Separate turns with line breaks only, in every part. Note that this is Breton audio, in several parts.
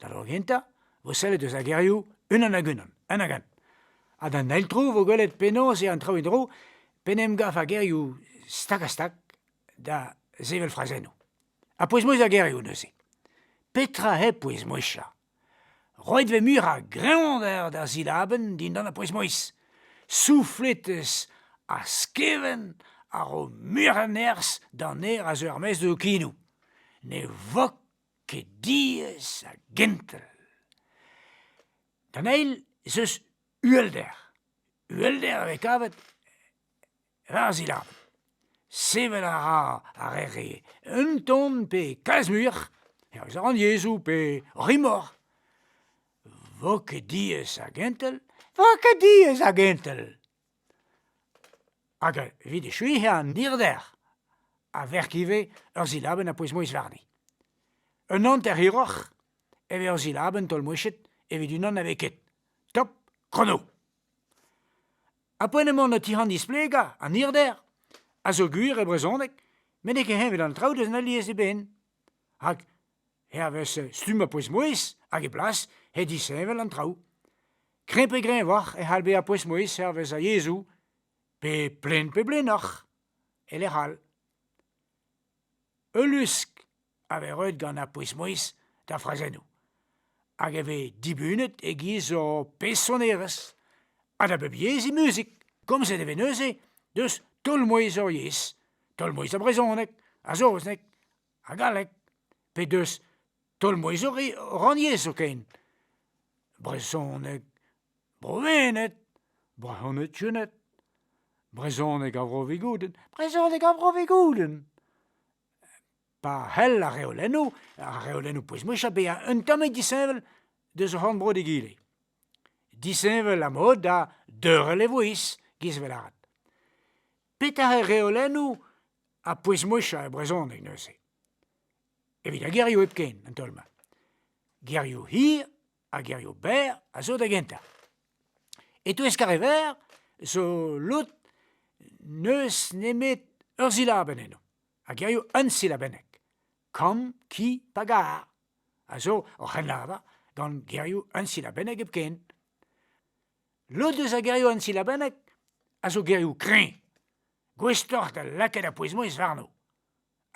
Da vro gentañ 'vo sellet eus ar gerioù unan hag unan, un hag all. Ha d'an eil tro 'vo gwelet penaos eo an traoù en-dro p'en em gav ar gerioù stag-ha-stag da sevel frazennoù. Ha pouez-mouezh ar gerioù neuze. Petra hep pouez-mouezhañ? Roit 'vez muiañ a greñvadur d'ar silabenn dindan ar pouez-mouezh. Souflet eus ar skevent a ro muiañ a nerzh d'an ner a zeu er-maez d'ho kinoù. Ne vok ket diaes ha gentel. D'an eil ez eus uhelder. Uhelder a vez kavet war zilabenn. Sevel a ra ar re-se un ton pe kalz muioc'h, hervez rannyezhoù pe rimor. Vo ket diaes ha gentel, vo ket diaes ha gentel. Hag evit echuiañ an dirder a verk ivez ur silabenn a pouez-mouezh warni. Un hanter hiroc'h e vez ur silabenn taol-mouezhet evit unan na vez ket. Top chrono. Ha poent emaon o tic'hañ displegañ an hirder a zo gwir e brezhoneg met n'eo ket heñvel an traoù deus alies eben. Rak hervez stumm ar pouez-mouezh hag e blas eo disheñvel an traoù. Kreñv-pe-greñv oc'h e c'hall bezañ pouez-mouezh hervez ar yezhoù, pe plenn-pe-blennoc'h, e-lec'h all. Ul lusk a vez roet gant ar pouez-mouezh d'ar frazennoù, hag e vez dibunet e-giz ur personerezh ha da bep yezh he muzik. Komzet e vez neuze deus taol-mouezh ur yezh, taol-mouezh ar brezhoneg, ar saozneg ha galleg, pe deus tolmouezhori rannyezh zoken, brezhoneg, Browened, brezhoneg Tuned, brezhoneg ar Vro-Vigoudenn, brezhoneg ar Vro-Vigoudenn. Pa c'hell ar reolennoù, ar reolennoù pouez-mouchañ bezañ un tammig disheñvel deus o c'horn-bro d'egile. Disheñvel ha mod da deurel e vouezh, giz 'vel avat. Petra eo reolennoù Ha pouez-moueshañ e brezhoneg neuze. Evit ar gerioù hepken, an taol-mañ. Gerioù hir ha gerioù berr a zo da gentañ. E-touez Karever zo lod n'eus nemet ur silabenn eno, ar gerioù unsilabennek, kamm, ki pa gar, a zo o c'hrennlavar gant gerioù unsilabennek hepken. Lod eus ar gerioù unsilabennek a zo gerioù kreñv, Gouestoc'h da lakaat ar pouez-mouezh warno.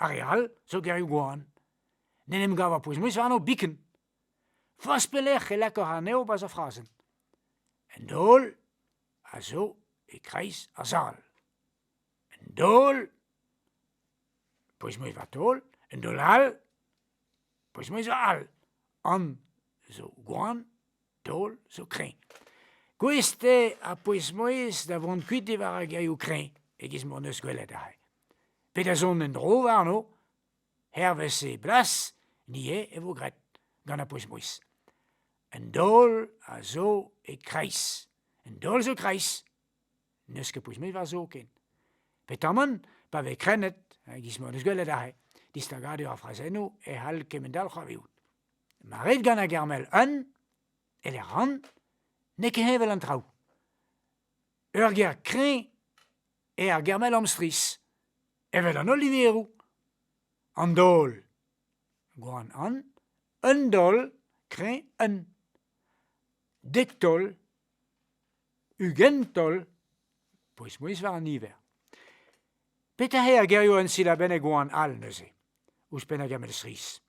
Ar re all zo gerioù-gwan. N'en em gav ar pouez-mouezh warno biken. Forzh pelec'h e lakor anezho bezañ frazenn. Un daol a zo e-kreiz ar sal. Un daol, pouez-mouezh war taol, un daol all, pouez-mouezh all. An zo gwan, Taol zo kreñv. Gouest eo ar pouez-mouezh da vont kuit diwar ar gerioù kreñv e-giz m'hon eus gwelet aze. Pe da zont en-dro warno. Hervez e blas ivez e vo graet gant ar pouez-mouezh. Un daol a zo e-kreiz. Un daol zo kreiz. N'eus ket pouez-mouezh war zoken. Petamant pa vez krennet, e-giz m'hon eus gwelet aze, distagadur ar frazennoù e c'hall kement-all c'hoarvezout. Ma rit gant a Germel eun, eler ran, n'eo ket heñvel an traoù. Ur ger kreñv eo ar Germel amstrizh, evel an holl liveroù. An daol. Gwan an, un daol, kreñv un. Dek taol, Ugent taol, pouez-mouezh war an niver. Petra eo ar gerioù ensilabennek oan all neuze, ouzhpenn ar gamell strizh?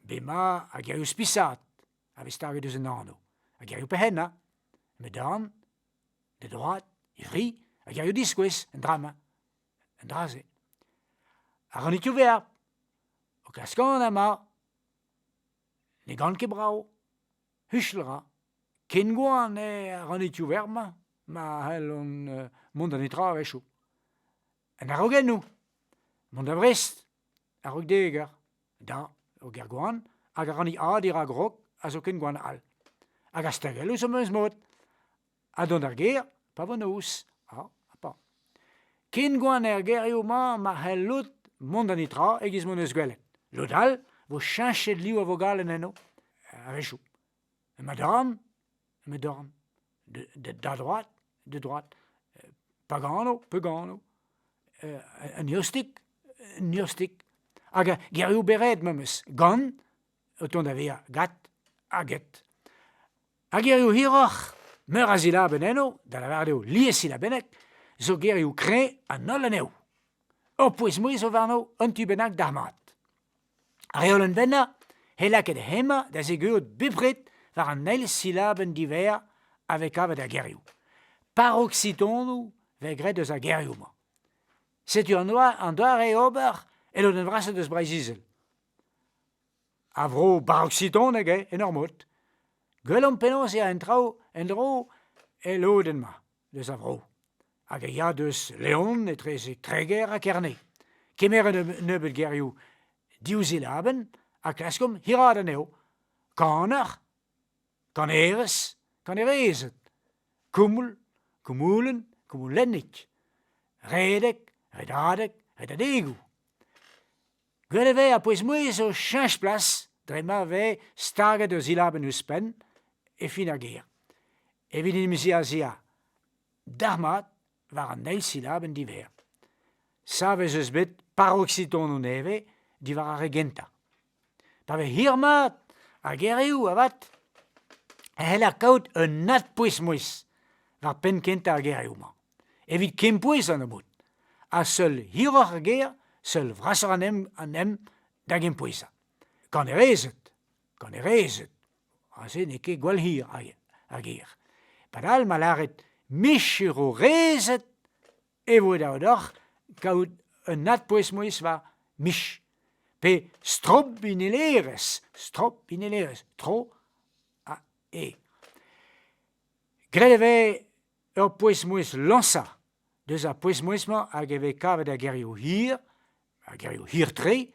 Bema ar gerioù spisaat a vez staget eus an anv, ar gerioù perc'hennañ, met darn, e droad, e fri, ar gerioù diskouez, an dra-mañ, an dra-se. Ar c'honitioù-verb, o klask anat emañ, ne gant ket brav, Huchal 'ra. Ken gwan eo ar ranitioù verr-mañ ma c'hellont mont da netra a-wechoù. An araogennoù, mont da Vrest a-raok dek eur, da ur gêr gwan hag ar rannig-ha dirak Rok a zo ken gwan all. Hag a-stagell eus o meuz mod. ha dont er gêr pa vo noz ha pa. Ken gwan er gêrioù-mañ ma c'hell lod mont da netra e-giz m'hon eus gwelet. Lod all vo cheñchet liv a vogalenn enno a-wechoù. Emañ dorn, emañ dorn. Da droad, da droad. Pa gano, pa gano. Un eostig, un eostig. Hag gerioù beret memes, gant, o tont da vezañ gat ha get. Ar gerioù hiroc'h, meur a silabenn enno, da lavaret eo lies silabennek, zo gerioù kreñv an holl anezho. Ur pouez-mouezh zo warno un tu bennak d'ar mat. Ar reolenn vennañ he lakaet hemañ da zegeout bepred war an eil silabenn diverr a vez kavet er gerioù. Paroksitonoù vez graet eus ar gerioù-mañ. Setu an doare ober e lodenn vrasañ eus Breizh-Izel. A vro baroksidonek eo en ur mod. Gwelomp penaos eo an traoù en-dro el lodenn-mañ deus a vro. Hag e ya deus Leon etreze Treger ha Kerne. Kemeret un nebeud gerioù div silabenn ha klaskomp hiraat anezho. Kaner, kanerez, kanerezed, koumoul, koumoulenn, koumoulennig, redek, redadeg, redadegoù. Gwell e vez a-bouez-mouezh o cheñch plas dre ma vez staget ur silabenn ouzhpenn e fin ar ger, evit en em ziazezañ dalc'hmat war an eil silabenn diverr. Savet ez eus bet paroksitonoù nevez diwar ar re gentañ. Pa vez hir-mat ar gerioù avat e c'heller kaout un adpouez-mouezh war penn kentañ ar gerioù-mañ. Evit kempouez an nebeud, ha seul hiroc'h ar gêr, seul vrasoc'h an hent, an hent da gempouezañ. Kanerezed, kanerezed, aze n'eo ket gwall hir ar gêr. Padal ma lâret micherorezed e vo dav deoc'h kaout un adpouez-mouezh war mich, pe strobinelerezh, strobinelerezh, tro ha e. Graet e vez Ur pouez-mouezh lañsañ deus ar pouez-mouezh-mañ hag e vez kavet er gerioù hir, ar gerioù hir-tre,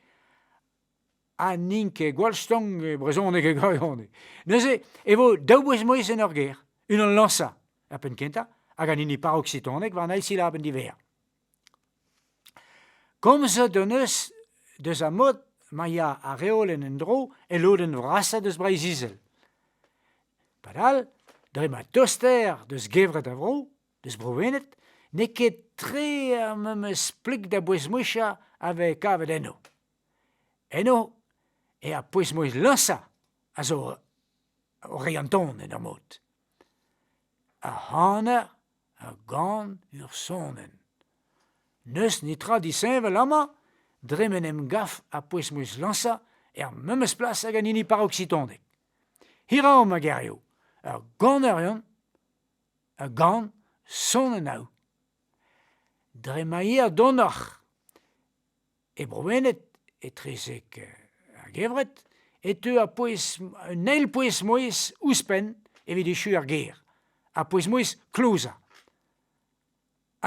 ha n'int ket gwall-stank e brezhoneg e gwirionez. Neuze e vo daou pouez-mouezh en ur ger, unan lañsañ er penn kentañ hag an hini paroksitoneg war an eil silabenn diwezhañ. Komzet hon eus deus ar mod ma ya ar reolenn en-dro el lodenn vrasañ deus Breizh-Izel. Padal, dre ma toster deus gevred ar vro, deus Bro-Wened, n'eo ket tre ar memes plik da bouez-mouezhiañ a vez kavet enno. Eno eo ar pouez-mouezh lañsañ a zo o reiñ an ton en ur mod. Ar c'haner ur gant, ur sonenn. N'eus netra disheñvel amañ dre m'en em gav ha pouez 'm eus lañsañ er memes plas hag an hini paroksitondeg. Hiraomp ma gerioù, ur ganerion, ur gant, sonenn ao. Dre ma eer donoc'h E Browened, etrezek ar gevred, e teu ar pouez un eil pouez-mouezh ouzhpenn evit echu ar gêr, ar pouez-mouezh klozañ.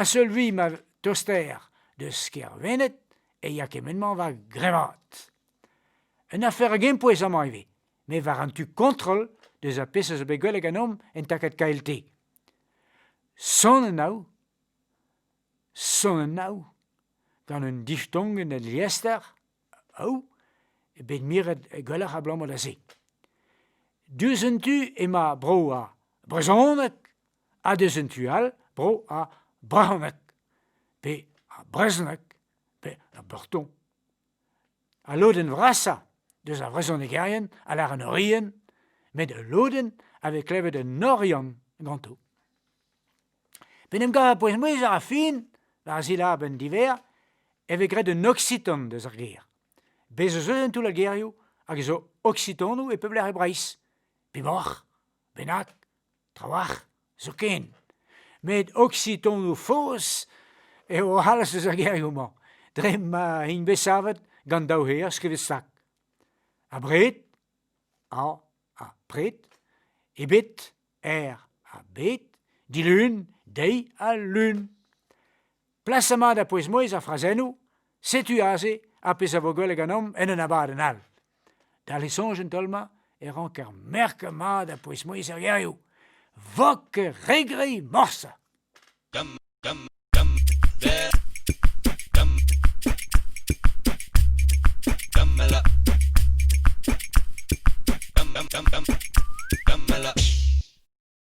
A-seul-vui ma tostaer deus Kêr-Wened e ya kement-mañ war grevaat. Un afer a gempouez amañ ivez, met war an tu kontrol deus ar pezh a zo bet gwell ganeomp en takad KLT. Sonn eo an ao. Cent ha nav. Gant un diftongenn el liester, au, eo bet miret gwelloc'h abalamour da se. Diouzh un tu emañ bro ar brezhoneg ha diouzh un tu all bro ar brezhoneg, pe ar brezhoneg, pe ar breton. Al lodenn vrasañ deus ar vrezhonegerien a lâr an Orienn, met ul lodenn a vez klevet en Oriant ganto. P'en em gav ar pouez-mouezh a ra fin war ar silabenn diver e vez graet un oksitan deus ar ger. Bez' ez eus en toull ar gerioù hag a zo oksitonoù e pep lec'h e Breizh. Peboc'h? Bennak? Trawalc'h zoken. Met oksitonoù faos eo o c'halz eus ar gerioù-mañ, dre ma int bet savet gant daou c'her skrivet sak. Abred, a, apred, ebet, er ha bet, dilun, deiz ha lun. Plasañ mat ha pouez-mouezh ar frazennoù, setu aze ar pezh a vo gwelet ganeomp en un abadenn all. Dal e soñj an taol-mañ e ranker merkañ mat ha pouez-mouezh er gerioù. Vok regri morsa.